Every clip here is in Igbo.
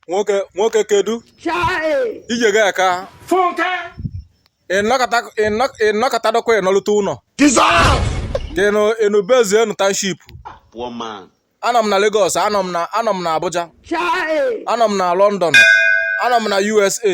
nwoke nwoke kedu ije gị aka ị nọkatadịkwa ị na-alọta ụlọ ka ị na-ebezi na township anọ m na Lagos anọ m na Abuja anọ m na London anọ m na USA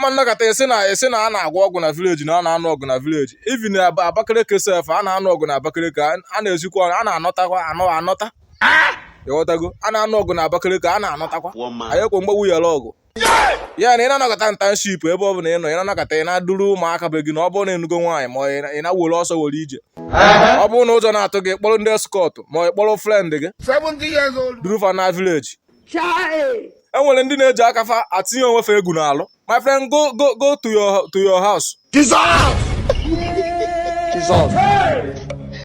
ma nọkata a sị na a sị na a na-agwọ ọgwụ na village na a na-anụ ọgụ na village even na Abakaliki sef a na-anụ ọgụ na Abakaliki a na-ejekwa a na-anọtakwa anọ anọta ịghọtago a na-anụ ọgụ na Abakaliki a na-anọtakwa anyị ekwe mgbe wuyere ọgụ ya na ị na-anọkata na township ebe ọ bụla ị nọ ị na-anọkata ị na-eduru ụmụaka be gị na ọ bụrụ na ị nụgo nwaanyị ma ị na-were ọsọ were ije ọ bụrụ na ụjọ na-atụ gị kpọrọ ndị escort ma ị kpọrọ friend gị duru fa naa village enwere ndị na-eji aka fa atinye onwe fa egwu n'alụ my friend go go go to your to your house Jesus. Jesus.